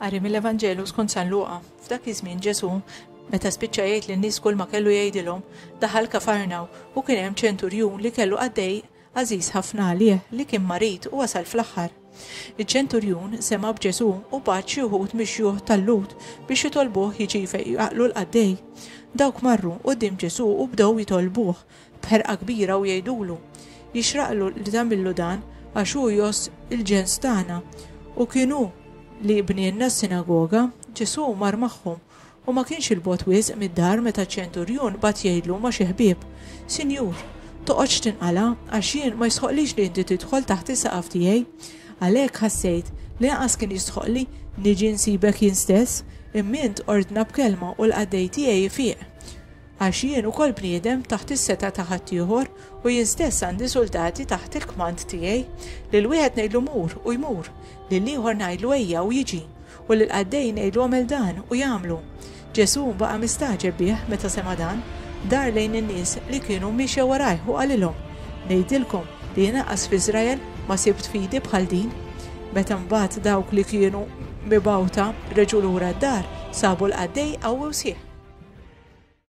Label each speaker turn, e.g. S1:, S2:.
S1: Għarri mill-Evanġelu skont San Luqa, f'dak iż-żmien Ġesu, meta spiċċa jgħid lin-nies kull ma kellu jgħidilhom, daħal kafarnaw u kien hemm ċenturjun li kellu qaddej Għażiż ħafna għalih li kien marid u wasal fl-aħħar. Iċ-ċenturjun sema' b'Ġesù u bagħat xi wħud mix-xjuħ tal-Lhud biex jitolbuh jiġi jfeqq jqaqqlu l-qaddej. Dawk marru quddiem Ġesù u bdew jitolbuh b'ħerqa kbira u jgħidulu, Jixraqlu li tagħmillu dan, għax hu jgħożż il-ġens tagħna, u kien hu li jibnielna s-sinagoga. Ġesù mar magħhom U ma kienx 'il bogħod wisq mid-dar meta ċ-ċenturjun bagħat jgħidlu ma' xi ħbieb, Sinjur, toqgħodx tinqala', għax jien ma jistħoqqlix li inti tidħol taħt is-saqaf tiegħi. Għalhekk ħassejt li anqas kien jistħoqqli niġi nsibek jien stess, imma int ordna b'kelma u l-qaddej tiegħi jfiq. Għax jien ukoll bniedem taħt is-setgħa ta' ħaddieħor, u jien stess għandi suldati taħt il-kmand tiegħi. Lil wieħed ngħidlu mur, u jmur, lill-ieħor ngħidlu ejja, u jiġi, u lill-qaddej ngħidlu agħmel dan, u jagħmlu. Ġesù baqa' mistagħġeb bih meta sema' dan, dar lejn in-nies li kienu miexja warajh u qalilhom, Ngħidilkom li jien anqas f'Iżrael ma sibt fidi bħal din. Meta mbagħad dawk li kienu mibgħuta reġgħu lura d-dar, sabu l-qaddej qawwi u sħiħ.